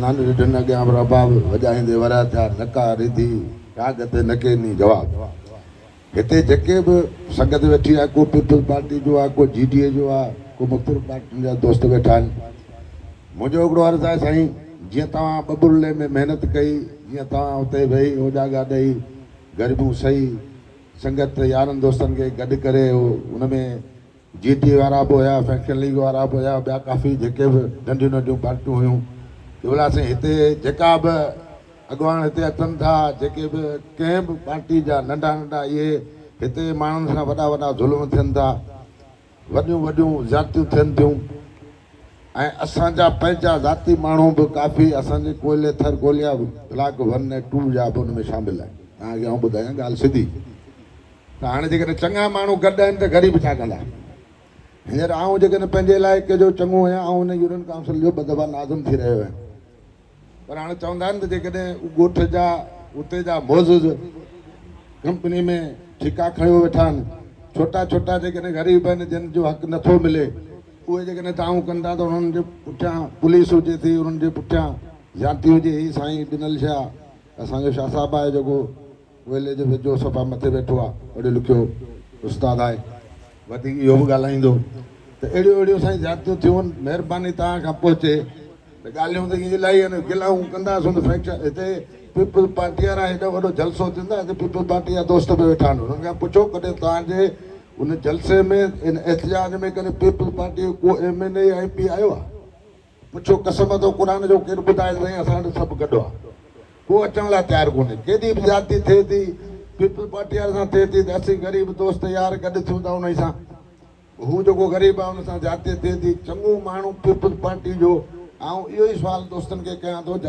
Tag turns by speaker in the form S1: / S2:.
S1: نانء ڏٺن اڳيان به رباب وڄائيندي وريا ٿيا نڪا ريڌي راڳ تي نڪي ني جواب هتي جيڪي به سنگت ويٺي آهي ڪو پيپلز پارٽي جو آهي ڪو جي ڊي اي جو آهي ڪو مختلف پارٽين جا دوست ويٺا آهن منهنجو هڪڙو عرض آهي سائين جيئن توهان ٻٻرلي ۾ محنت ڪئي جيئن توهان اتي ويهي اوجاڳا ڏئي غريبون سهي سنگت يارن دوستن کي گڏ ڪري ان ۾ جي ٽي وارا به هيا فيڪشن ليگ وارا به هيا ٻيا ڪافي جيڪي به ننڍيون ننڍيون پارٽيون هيون ته بلا سائين هتي جيڪا به اڳواڻ هتي اچن ٿا جيڪي به ڪنهن به پارٽي جا ننڍا ننڍا اهي هتي ماڻهن سان وڏا وڏا ظلم ٿين ٿا وڏيون وڏيون زيادتيون ٿين ٿيون ۽ اسان جا پنهنجا ذاتي ماڻهو به ڪافي اسان جي ڪوئلي ٿر ڪوليا بلاڪ ون ۽ ٽو جا به ان ۾ شامل آهن تهان کي آئون ٻڌايان ڳالهه سڌي ته هاڻي جيڪڏهن چڱا ماڻهو گڏ آهن ته غريب ڇا ڪندا؟ هينئر آئون جيڪڏهن پنهنجي علائقي جو چڱو هيان آئون هن يونين ڪائونسل جو ٻه دفعا ناظم ٿي رهيو هيم پر هاڻي چوندا آهن ته جيڪڏهن ڳوٺ جا اتي جا معزز ڪمپني ۾ ٺيڪا کڻيو ويٺا آهن ڇوٽا ڇوٽا جيڪڏهن غريب آهن جن جو حق نه ٿو ملي اهي جيڪڏهن دانهون ڪن ٿا ته انهن جي پٺيان پوليس هجي ٿي انهن جي پٺيان زيادتي هجي هي سائين ڏنل شيء اسان جو شاهه صاحب آهي جيڪو ويلي جي ويجهو صفا مٿي ويٺو آ پڙهيو لکيو استاد آهي وڌيڪ اهو به ڳالهائيندو ته اهڙيون اهڙيون سائين زيادتيون ٿيون مهرباني توهان کان پهچي ته ڳالهيون ته ائين الائي آهن گلائون ڪندا سون ته فيڪشن هتي پيپلز پارٽي وارا هيڏو وڏو جلسو ٿين ٿا هتي پيپلز پارٽي جا دوست به ويٺا آهن انهن کان پڇو ڪڏهن توهان جي ان جلسي ۾ ان احتجاج ۾ ڪڏهن پيپلز پارٽي جو ڪو ايم اين اي يا ايم پي آيو آهي پڇيو قسم اٿو قرآن جو ڪير ٻڌائي سائين اسان وٽ سڀ گڏ آ ڪو اچڻ لاء تيار ڪونهي ڪيڏي به زيادتي ٿئي ٿي پيپلز پارٽي وارن سان ٿئي ٿي ته اسين غريب دوست يار گڏ ٿيون ٿا انهي سان هو جيڪو غريب آ ان سان زيادتي ٿئي ٿي چڱو ماڻهو پيپلز پارٽي جو آئون اهو ئي سوال دوستن کي ڪيان ٿو